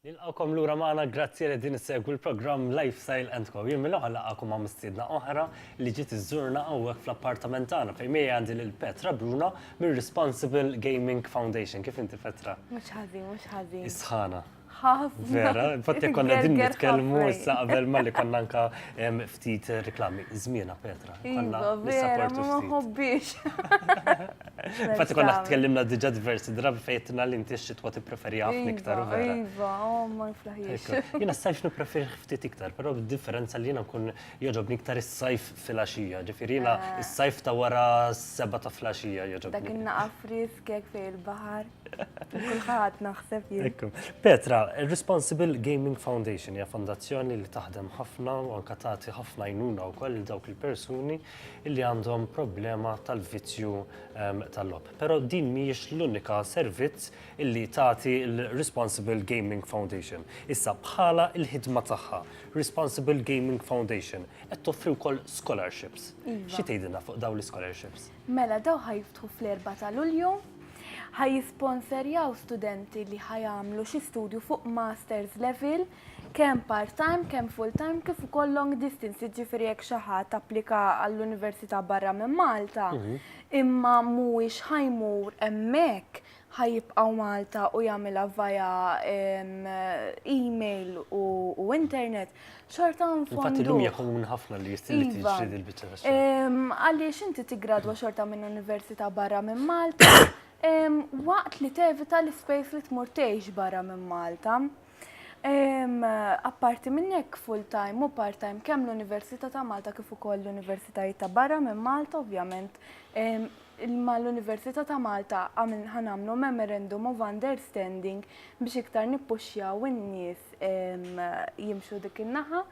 Nilqgħukom lura magħna, grazzi li qegħdin issegwu l-programm Lifestyle and Co. Jien mill-oħra nilqagħkom ma' mistiedna oħra li ġiet iżżurna hawnhekk fl-appartament tagħna fejn miegħi għandi lil Petra Bruna mir-Responsible Gaming Foundation. Kif inti Petra? Mhux ħażin, mhux ħażin. Is-sħana. Ħafna. Vera, infatti konna din nitkellmu issa qabel malli konna anka Ftit reklami, żmienha Petra. Konna Iva, vera, nissapportu ma ma ftit. nħobbiex. Infatti konna Tagħmel. tkellimna diġà diversi drabi fejn għedtilna li inti x-xitwa tippreferiha ħafna iktar, Iva, vera. Iva, oh, ma niflaħiex. Hekk. Jiena s-sajf nippreferih ftit iktar, però bid-differenza li jiena nkun jogħġobni iktar is-sajf filgħaxija, ġifieri jiena s-sajf ta' wara s-sebgħa ta' filgħaxija Dak jogħġobni. in-naqa frisk hekk fejn il-baħar. Kulħadd naħseb jien. Ekku. Petra, Responsible Gaming Foundation hija fondazzjoni li taħdem ħafna u anka tagħti ħafna jnuna wkoll il dawk il-persuni li għandhom problema tal-vizzju ehm, tal-lob. Però din mhijiex l-unika servizz illi tagħti l-Responsible Gaming Foundation. Issa bħala il-ħidma tagħha, Responsible Gaming Foundation qed toffri wkoll scholarships. Iva. Xi tgħidilna fuq dawn l-scholarships? Mela dawn ħa jiftħu fl-Erbgħa ta' Lulju, ħa jisponserjaw studenti li ħa jagħmlu xi studju fuq masters level kemm part-time, kemm full-time kif ukoll long distance, jiġifieri jekk xi ħadd applika għall-università barra minn Malta imma mhuwiex ħa jmur hemmhekk ħa jibqgħu Malta u jagħmilha via email u internet, xorta nfondu. Infatti llum hija komuni ħafna li jistri iva. tixtri dil-biċċa ta' xogħol. Għaliex inti tiggradwa xorta minn università barra minn Malta, waqt li tevita l-ispejs li tmur tgħix barra minn Malta. Apparti minn hekk full-time u part-time kemm l-Università ta' Malta kif ukoll l-Universitajiet ta' barra minn Malta ovvjament ma' l-Università ta' Malta għamil ħanamlu memorandum of understanding biex iktar nippuxjaw in-nies jimxu dik in-naħa.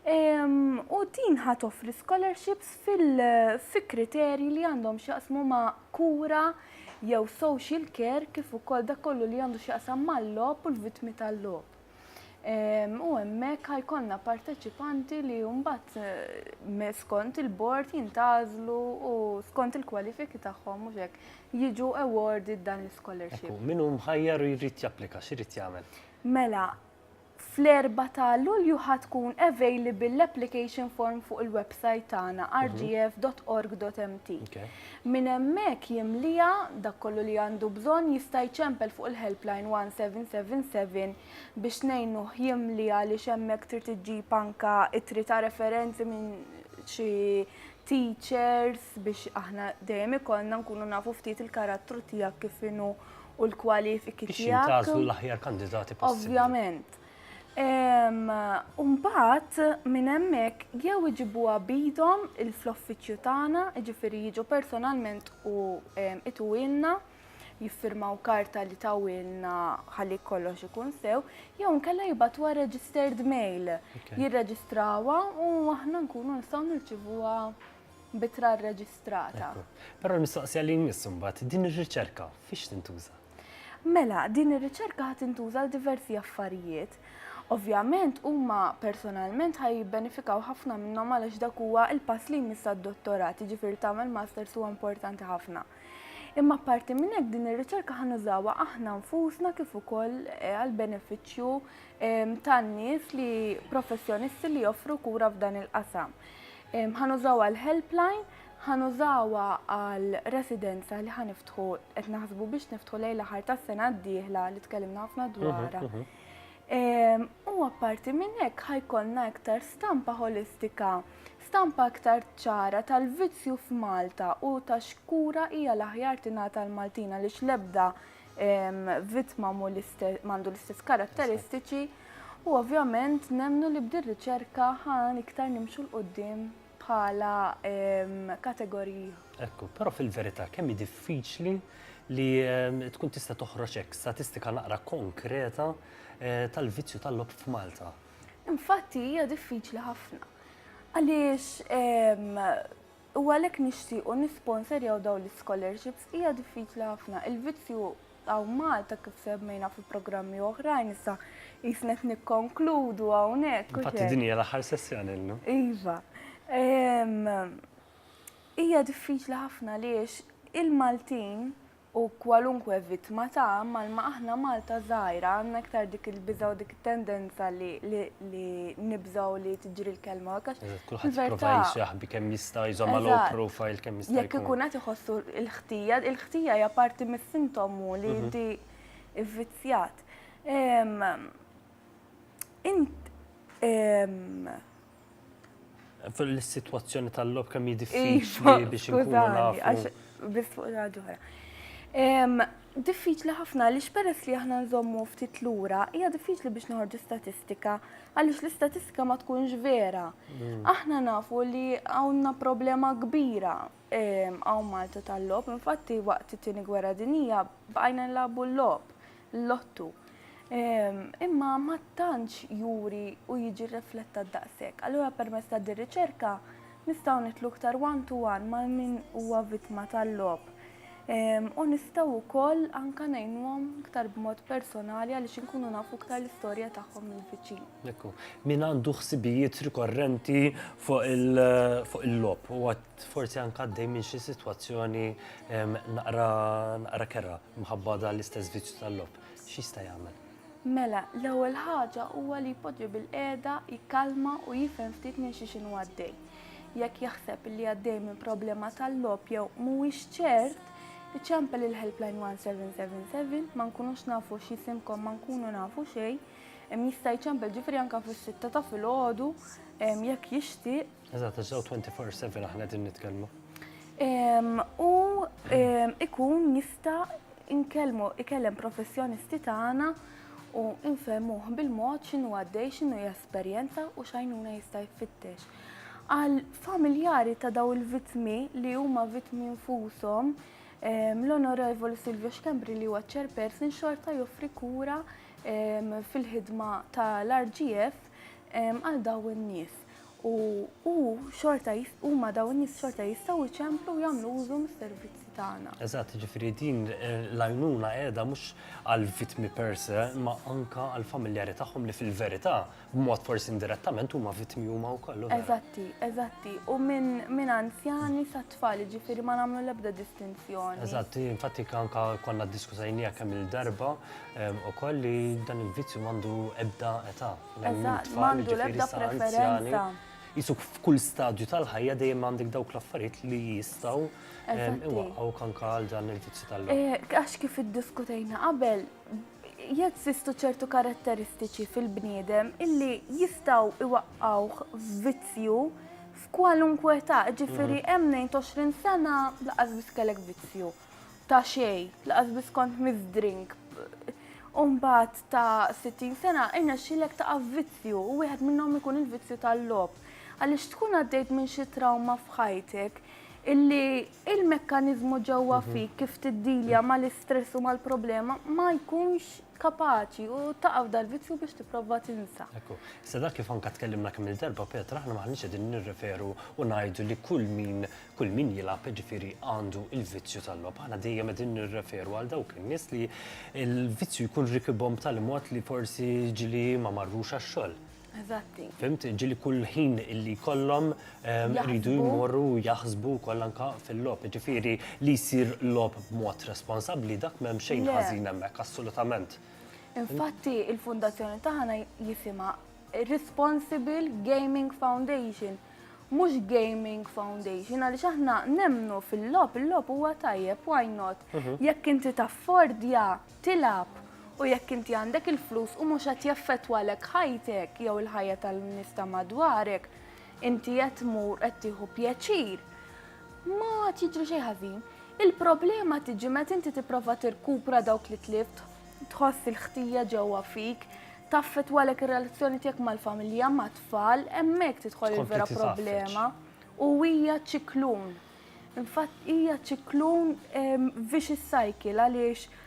U din ħa toffri scholarships fil-kriterji li għandhom x'jaqsmu ma' kura jew social care kif ukoll dak kollu li għandu x'jaqsam mal-logħob u l-vittmi tal-logħob. Ehm, u hemmhekk ħajkonna parteċipanti li mbagħad eh, skont il-bord jintgħażlu u skont il-kwalifiki tagħhom mhux hekk jiġu awarded dan l-scholarship. Min hu mħajjar u jrid japplika, x'irid jagħmel? Mela, Fl-Erbgħa ta' Lulju ħa tkun available l-application form fuq il-website tagħna rgf.org.mt. Minn hemmhekk jimlieha, dak kollu li għandu bżonn jista' jċempel fuq il-helpline 1777 biex ngħinuh jimli għaliex hemmhekk trid iġġib anke ittri ta' referenzi minn xi teachers biex aħna dejjem ikollna nkunu nafu ftit il-karattru tiegħek kif inhu u l-kwalifiki tiegħek. Biex tagħżlu l-aħjar kandidati possibbli. Ovvjament. Umbat minn hemmhekk jew iġibuha bidhom il-floffiċċju tagħna, jiġifieri jiġu personalment u ituwilna jiffirmaw karta li tawilna ħalli kollox ikun sew, jew nkella jibatuha registered mail, jirreġistrawha u aħna nkunu nistgħu nirċivuha b'ittra rreġistrata. Ekku. Però l-mistoqsija li jmiss imbagħad, din ir-riċerka fiex tintuża? Mela, din ir-riċerka ħa tintuża għal diversi affarijiet. Ovvjament huma personalment ħa jibbenefikaw ħafna minnhom għalax dak huwa l-pass li jmiss għad-dottorat, jiġifieri tagħmel masters huwa importanti ħafna. Imma apparti minn hekk din ir-riċerka ħa nużawha aħna nfusna kif ukoll eh, għal benefiċċju ehm, tan-nies li professjonisti li joffru kura f'dan il-qasam. Ħa nużaw għal helpline, ħa nużawha għal residenza li ħa niftħu qed naħsbu biex niftħu lejn l-aħħar tas-sena d-dieħla li tkellimna ħafna mhm, dwarha. Mhm. Ehm, u apparti minn hekk ħajkollna iktar stampa holistika, stampa aktar ċara tal-vizzju f'Malta u ta' xkura hija l-aħjar tingħata l-Maltina li xlebda vittma m'għandu l-istess karatteristiċi u ovvjament nemnu li bdir riċerka ħan iktar nimxu l-qoddim bħala kategoriji. Ekku, però fil-verità kemm hi diffiċli li tkun tista' toħroġ hekk statistika naqra konkreta eh, tal-vizzju tal-lob f'Malta. Infatti hija diffiċli ħafna. Għaliex U għalhekk nixtiequ nisponserjaw dawn l-ischolarships. Hija diffiċli ħafna. Il-vizzju hawn Malta kif semmejna fi programmi oħrajn issa qisna qed nikkonkludu hawnhekk u x'hekk. Infatti din hija l-aħħar sessjoni llum. Iva. Hija diffiċli ħafna għaliex il-Maltin u kwalunkwe vittma ta' malma aħna Malta żgħira għandna iktar dik il-biża' u dik it-tendenza li li li nibżgħu li tiġri l-kelma hekk għax Eżatt, kulħadd jipprova il-verità- jsaħbi kemm jista' jżommha low Eżatt. profile kemm jista' Jekk jkun. ikun qed iħossu l-ħtija, il-ħtija hija parti mis-sintomu li inti vvizzjat. Ehm, Int ehm, Fil-sitwazzjoni tal-logħob kemm hi diffiċli biex inkunu nafu. Biss fuq il-ħaġa oħra. Diffiċli ħafna għaliex peress li aħna nżommu ftit lura, hija diffiċli biex noħorġu statistika għaliex l-istatistika ma tkunx vera. Mm. Aħna nafu li hawnna problema kbira Hawn Malta tal-logħob, infatti waqt it-Tieni Gwerra Dinjija bqajna nlagħbu l-logħob, l-lottu. Imma ma tantx juri u jiġi rriflettat daqshekk. Allura permezz ta' din riċerka nistgħu nidħlu iktar one to one mal min huwa vittma tal-logħob. U nistgħu wkoll anke ngħinuhom iktar b'mod personali għaliex inkunu nafu iktar l-istorja tagħhom minn viċin. Min għandu ħsibijiet rikorrenti fuq il-logħob forsi anke għaddej minn xi sitwazzjoni naqra kerha minħabba dan l-istess vizzju tal-logħob, x'jista' jagħmel? Mela, l-ewwel ħaġa huwa li jpoġġi bilqiegħda, jikkalma u jifhem ftit minn xi x'inhu għaddej. Jekk jaħseb li għaddej minn problema tal-logħob jew mhuwiex ċert, iċempel il-helpline 1777, ma nkunux nafu x'isimkom ma nkunu nafu xejn, jista' jċempel ġifieri anke fis-sitta ta' filgħodu jekk jixtieq Eżatt, għax ġew 24/7 aħna qegħdin nitkellmu. U ikun jista' inkellmu ikellem professjonisti tagħna u infemuh bil-mod x'inhu għaddej, x'inhu jesperjenza u x'għajnuna jista' jfittex. Għal familjari ta' daw il-vittmi li huma vittmi nfushom, l-Onorevoli Silvio Xkembri li huwa chairperson xorta joffri kura fil-ħidma tal-RGF għal daw in-nies. u hu xorta jist- huma dawn in-nies xorta jistgħu jċemplu u jagħmlu użu mis-servizzi tagħna. Eżatt, jiġifieri din l-għajnuna qiegħda mhux għall-vittmi per se, imma anke għall-familjari tagħhom li fil-verità, b'mod forsi indirettament, huma vittmi huma wkoll, u vera. Eżatti, eżatti. U minn minn anzjani sa tfal, jiġifieri ma nagħmlu l-ebda distinzjoni. Eżatt, hi infatti ke- anke konna ddiskutajniha kemm-il darba em, ukoll li dan il-vizzju m'għandu ebda età. Eżatt, m'għandu l-ebda preferenza. Jisuk f'kull stadju tal-ħajja dejjem għandek dawk l-affarijiet li jistgħu iwaqqgħu kanka għal dan il-vizzju tal eh, Għax kif iddiskutejna qabel, jeżistu ċertu karatteristiċi fil-bniedem illi jistgħu iwaqqgħuh f'vizzju f'kwalunkwe ta' ġifieri mhm. hemm 20 sena laqas biss kellek vizzju. ta' xej, laqas biss kont mizdrink. Umbat ta' 60 sena, irna xilek ta' vizzju, u wieħed minnhom ikun il-vizzju tal-lob. Għaliex tkun għaddejt minn xi trawma f'ħajtek, illi il-mekkanizmu ġewwa mhm. fik kif tiddilja mal-istress u mal-problema ma jkunx kapaċi u taqaf dal-vizzju biex tipprova tinsa. Ekku, issa dak kif anka tkellimna kemm il-darba Petra, aħna maħniex qegħdin nirreferu u ngħidu li kull min kull min jilgħab ġifieri għandu il-vizzju tal-logħob. Aħna dejjem qegħdin nirreferu għal dawk in-nies li l-vizzju jkun rikibhom b'tali mod li forsi ġili ma marrux għax-xogħol. Eżatti. Fimt, ġili kull ħin li kollom rridu jmorru jaħsbu koll anka fil-lob, ġifiri li jisir lob b'mod responsabli dak m'hemm xejn ħażin hemmhekk assolutament. Infatti il-fundazzjoni taħna jifima Responsible Gaming Foundation, mhux Gaming Foundation, għaliex aħna nemnu fil-lob, il-lob huwa tajjeb, why not? Mhm. Jekk inti taffordja tilgħab u jekk inti għandek il-flus u mhux qed jaffettwalek ħajtek jew il-ħajja tan-nies ta' madwarek, inti qed tmur qed tieħu pjaċir, ma qed jiġri xejn ħażin. Il-problema tiġi meta inti tipprova tirkupra dawk li tlift, tħoss il-ħtija ġewwa fik, taffettwalek ir-relazzjoni tiegħek mal-familja, mat-tfal, hemmhekk tidħol il-vera problema u hija ċiklun. Infatt hija ċiklun vicious cycle għaliex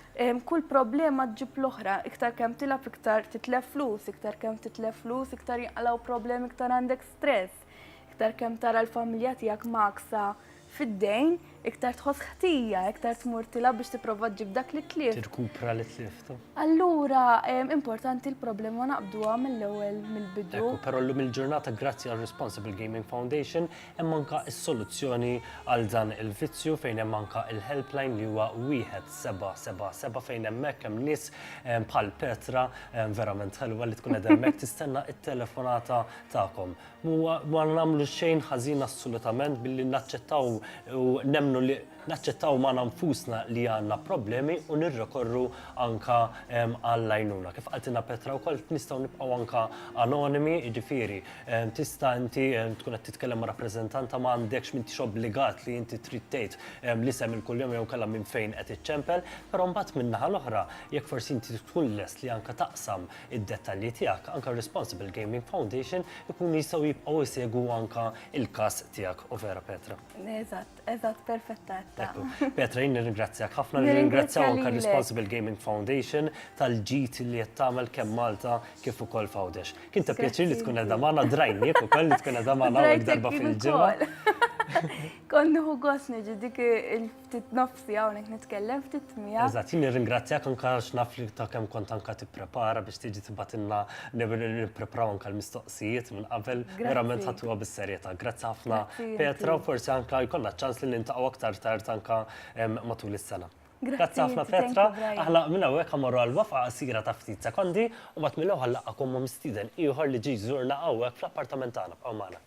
kull problema ġġib l-oħra, iktar kemm tilab iktar titlef flus, iktar kemm titlef flus, iktar jinqalaw problemi, iktar għandek stress, iktar kemm tara l-familja tiegħek maqsa fid-dejn, iktar tħoss ħtija, iktar tmur tilab biex tipprova ġib dak li tlif. Tirkupra li tliftu. Allura, importanti l-problema naqbduha mill-ewwel mill-bidu. Però llum il-ġurnata grazzi għal Responsible Gaming Foundation Hemm anke s-soluzzjoni għal dan il-vizzju fejn hemm anke l-helpline li huwa wieħed seba' seba' seba' fejn hemmhekk hemm nies bħal Petra verament ħelwa li tkun qed hemmhekk tistenna t-telefonata tagħkom. Huwa ma nagħmlu xejn ħażin assolutament billi naċċettaw u nemmnu li naċċettaw magħna nfusna li għandna problemi u nirrekorru anke għall-għajnuna. Kif qaltilna Petra wkoll nistgħu nibqgħu anke anonimi, jiġifieri Tista' inti tkun qed titkellem ma' rappreżentanta ma għandekx m'intix obbligat li inti trid tgħid l-isem il-kuljom jew inkella minn fejn qed iċċempel, però mbagħad min-naħa l-oħra jekk forsi inti tkun lest li anke taqsam id-dettalji tiegħek, anke r-Responsible Gaming Foundation ikunu jistgħu jibqgħu jsegwu anke l-każ tiegħek, overa Petra? Eżatt. Eżatt, perfetta għetta. Petra, jinn ringrazzjak ħafna, ringrazzjaw anka Responsible Gaming Foundation tal-ġit li qed tagħmel kemm Malta kif ukoll fawdex. Kien ta' pjaċir li tkun qed magħna drajnik ukoll li tkun qed magħna għal darba fil-ġimgħa. Konnuħu gos niġi dik il-ftit nofsi hawnhekk nitkellem ftit mija. Eżatt, jinn ringrazzjak anka naf li ta' kemm kont anka tipprepara biex tiġi tibatilna nippreparaw anka l-mistoqsijiet. mistoqsijiet minn qabel, verament ħadtuha bis-serjetà. Grazzi ħafna Petra u forsi anke jkollna ċans li niltaqgħu aktar tard anke matul is-sena. Grazzi ħafna Petra, aħna minn hawnhekk ħammorru għal waqfa qasira ta' ftit sekondi u mbagħad mill-ewwel ħanlaqgħukom ma' mistieden ieħor li ġie jżurna hawnhekk fl-appartament tagħna. Bqgħu magħna.